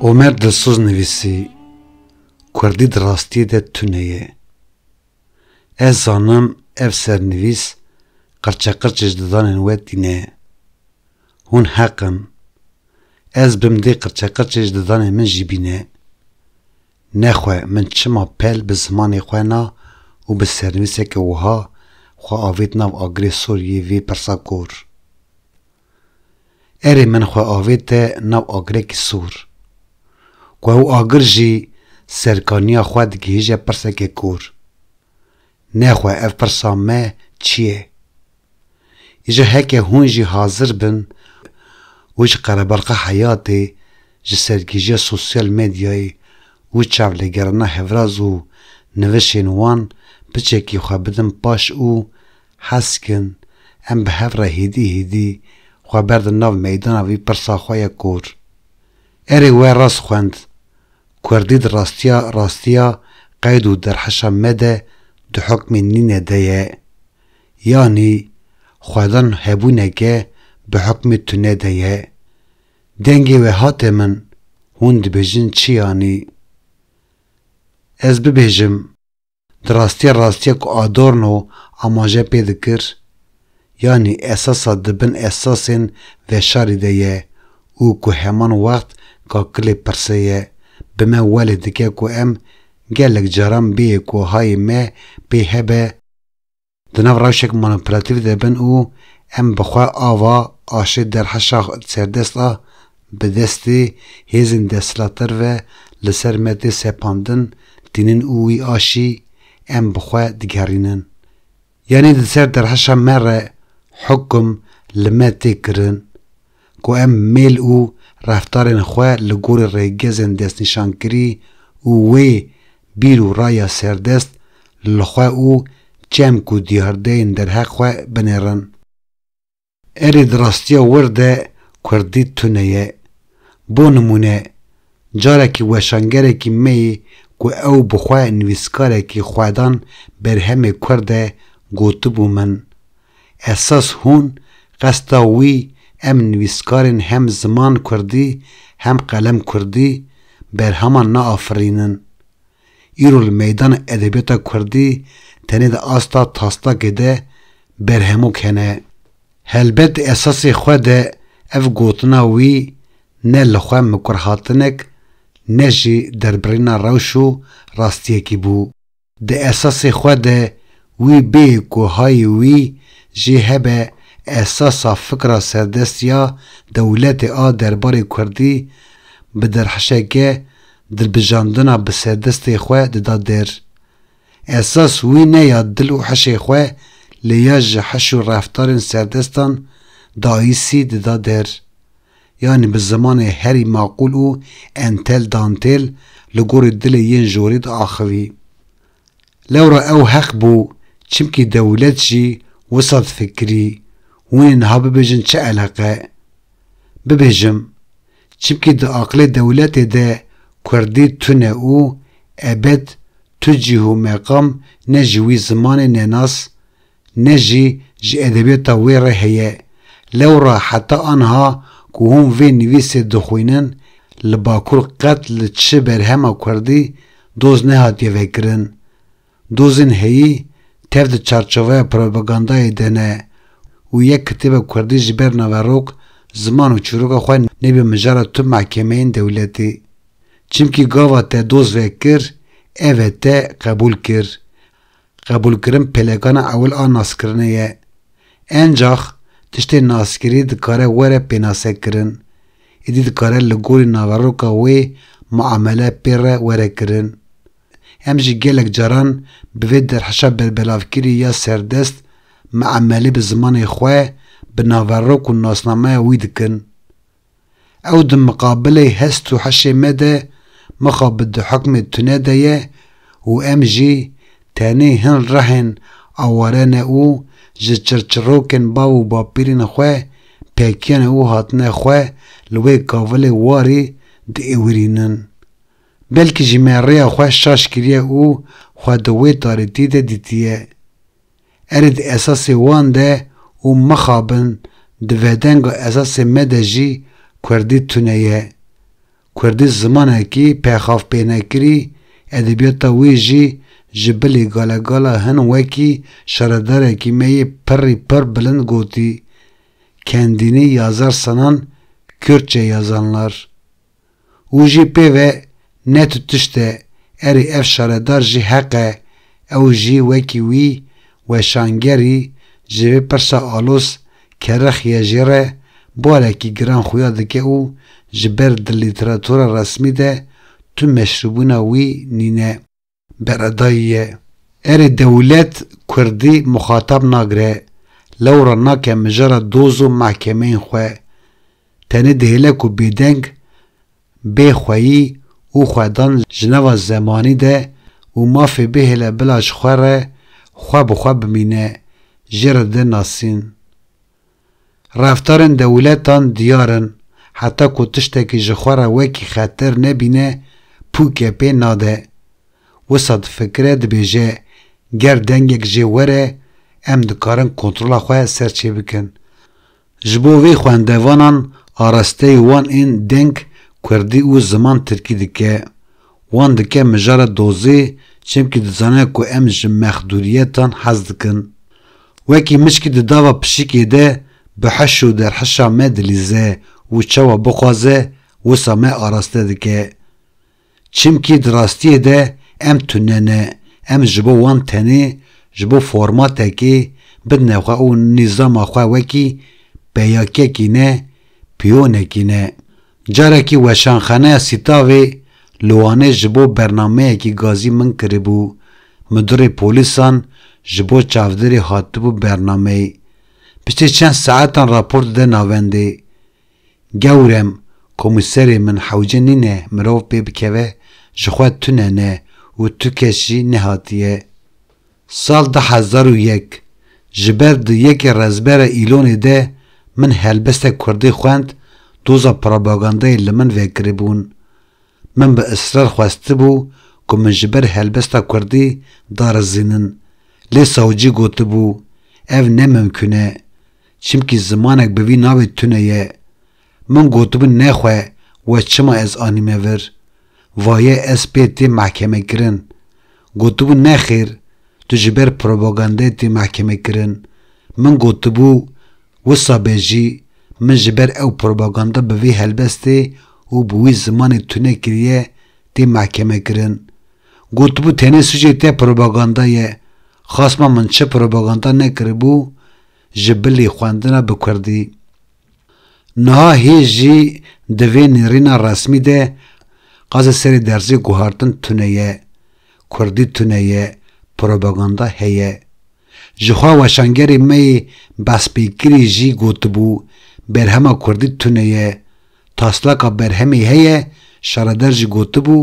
Omer Dilsoz nivîsî, Kurdî di rastiyê de tune ye. Ez zanim ev sernivîs qirçeqirçê ji didanên we tîne. Hûn heq in. Ez bim dê qirçeqirçê ji didanên min jî bîne. Nexwe min çima pel bi zimanê xwe na û bi sernivîseke wiha xwe avêt nav agirê sor yê vê pirsa kor. Erê min xwe avête nav agirekî sor. Ku ew agir jî serkaniya xwe digihîje pirseke kor. Nexwe ev pirsa me çi ye? Îcar heke hûn jî hazir bin û ji qerebalxa heyatê, ji sergîjiya sosyal medyayê û çavlêgerana hevraz û nivişên wan piçekî xwe bidin paş û heskin em bi hev re hêdî hêdî xwe berdin nav meydana vî pirsa xwe ya kor. Erê we rast xwend. Kurdî di rastiya rastiya qeyd û derheşa me de di hokmê nîne de ye. yanî xwedin hebûneke bi hukmê tune de ye. Dengê we hate min, hûn dibêjin çi yanî? Ez bibêjim, di rastiya rastiya ku Adorno amaje pê dikir, yanî esasa di bin esasên veşarî de ye û ku heman wext kakilê pirse ye, bi me welê dike ku em gelek caran bêyê ku hayê me pê hebe, Di nav rewşek manipülatîf de bin û em bi xwe ava aşê derheşa serdest a bi destê hêzên desthilatdar ve li ser me tê sepandin tînin û wî aşî em bi xwe digerînin. Yanî di ser derheşa me re hukm li me tê kirin, ku em mêl û reftarên xwe li gorî rêgezên destnîşankirî û wê bîr û raya serdest li xwe û çemk û diyardeyên derheq xwe binêrin. Erê di rastiya wir de kurdî tune ye. Bo nimûne, Carekî weşangerekî me yê ku ew bi xwe nivîskarekî xwedan berhemê kurd e gotibû min, Esas hûn qesta wî em nivîskarên hem ziman kurdî hem qelem kurdî berheman naafirînin. Îro li meydana edebiyata kurdî tenê di asta taslakê de berhemok hene. Helbet di esasê xwe de ev gotina wî ne li xwe mikurhatinek ne jî derbirîna rewş û rastiyekî bû. Di esasê xwe de wî bê ku hayê wî jê hebe esasa fikra serdest ya dewletê a derbarê kurdî bi derhişeke Dilbijandina bi serdestê xwe dida der. Esas wî ne ya dil û hişê xwe lê ya ji hiş û reftarên serdestan daîsî dida der. Yanî bi zimanê herî maqûl û entel dantêl li gorî dilê yên jorê diaxivî. Lewra ew heq bû çimkî dewlet jî wisa difikirî, hûn ê niha bibêjin çi eleqe? bibêjim. Çimkî di aqilê dewletê de kurdî tune û ebed tu cîh û meqam ne ji wî zimanê nenas ne jî ji edebiyata wê re heye. Lewra heta anha ku hûn vê nivîsê dixwînin li Bakur qet li çi berhema kurdî doz nehatiye vekirin. Dozên heyî tev di çarçoveya propagandayê de ne û yek kitêba kurdî ji ber naverok, ziman û çîroka xwe nebe mijara tu mehkemeyên dewletê. Çimkî gava te doz vekir, ev e te qebûl kir. Qebûlkirin pêlekana ewil a naskirinê ye. Encax tiştê naskirî dikare were pênasekirin. Êdî dikare li gorî naveroka wê muamele pê re were kirin. Em jî gelek caran bi vê derheşa berbelavkirî ya serdest miamelê bi zimanê xwe, bi naverok û nasnameya wî dikin. Ew di miqabilê hest û heşê me de mixa bi di hukmê tune de ye û em jî tenê hin rehên aware ne û ji çirçirokên bav û bapîrên xwe pekiyane û hatine xwe li wê kavilê warî diêwirînin. Belkî jî me rêya xwe şaş kiriye û xwe di wê tarîtî de dîtiye. Erê di esasê wan de û mixabin di vedenga esasê me de jî kurdî tune ye. Kurdî zimanekî pêxavpênekirî, edebiyata wê jî ji bilî galegala hin wekî şaredarekî me yê pirrî pirr bilind gotî, Kendînî ya zar sanan, Kürtçe ya zanlar. Û jî pê ve ne tu tişt e, erê ev şaredar jî heq e, ew jî wekî wî weşangerî ji vê pirsa alos ke rixiye jê re barekî giran xuya dike û ji ber di lîteratura resmî de tu meşrûbûna wî nîne. Beredayî ye. Erê dewlet kurdî muxatab nagire, lewra nake mijara doz û mehkemeyên xwe. Tenê dihêle ku bêdeng, bêxweyî û xwedan ji nava zemanî de û mafê bihêle bila ji xwe re xwe bi xwe bimîne, jê re dê nasîn. Reftarên dewletan diyar in, heta ku tiştekî ji xwe re wekî xeter nebîne pûke pê nade. Wisa difikire dibêje ger dengek jê were em dikarin kontrola xwe ser çê bikin. Ji bo vê xwendevanan arasteyê wan ên deng kurdî û ziman tirkî dike Wan dike mijara dozê çemkî dizane ku em ji mexdûriyetan hez dikin. Wekî mişkî di dava pişikê de bi hiş û derhişa me dilîze û çawa bixwaze wisa me araste dike. Çimkî di rastiyê de em tune ne, em ji bo wan tenê ji bo formatekê bidine xwe û nîzama xwe wekî peyakekî ne, piyonekî ne. Carekî Weşanxaneya Sîtavê li Wanê ji bo bernameyekî gazî min kiribû, Midurê Polîsan ji bo çavdêrê hatibû bernameyê. Piştî çend saetan rapor dide navendê. Gewrem, komîserê min hewce nîne mirov pê bikeve, ji xwe tune ne û tu kes jî nehatiye. Sal du hezar û yek ji ber di yekê rezbera Îlonê de min helbestek kurdî xwend doza propagandayê li min vekiribûn. Min bi israr xwestibû ku min ji ber helbesta kurdî darizînin lê sawcî gotibû ev ne mimkûn e çimkî zimanek bi vî navê tune ye. Min gotibû nexwe we çima ez anîme vir, vaye ez pê tê mehkemekirin. Gotibû nexêr tu ji ber propagandeyê tê mehkemekirin. Min gotibû wisa be jî min ji ber ew propaganda bi vî helbestê û bi wî zimanê tune kiriye tê mehkemekirin. Gotibû tenê sûcê te propaganda ye. Xasma min çi propaganda nekiribû ji bilî xwendina bi kurdî. Niha hêj jî di vê nêrîna resmî de qazê serê derzê guhartin tune ye, kurdî tune ye, propaganda heye. Jixwe weşangerê me yê Bespêkirî jî gotibû, berhema kurdî tune ye, taslaka berhemê heye, Şareder jî gotibû,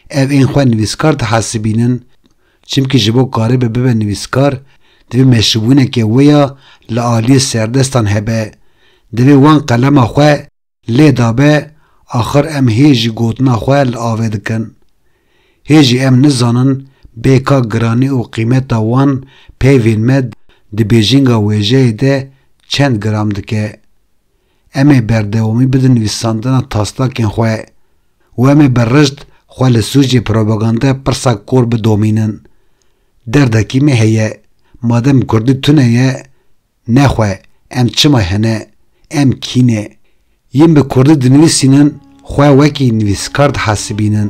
ev ên xwe nivîskar dihesibînin, Çimkî ji bo karîbe bibe nivîskar, divê meşrûbûneke wê ya li aliyê serdestan hebe. Divê wan qelema xwe lê dabe, axir em hê jî gotina xwe li avê dikin. Hê jî em nizanin bê ka giranî û qîmeta wan peyvên me di bêjinga wêjeyê de çend gram dike. Em ê berdewamî bidin nivîsandina taslakên xwe û em ê bi rişt xwe li sûcê propagandaya pirsa kor bidomînin. Derdekî me heye, madem kurdî tune ye, ne xwe, em çima hene, em kî ne? Yên bi kurdî dinivîsînin xwe wekî nivîskar dihesibînin.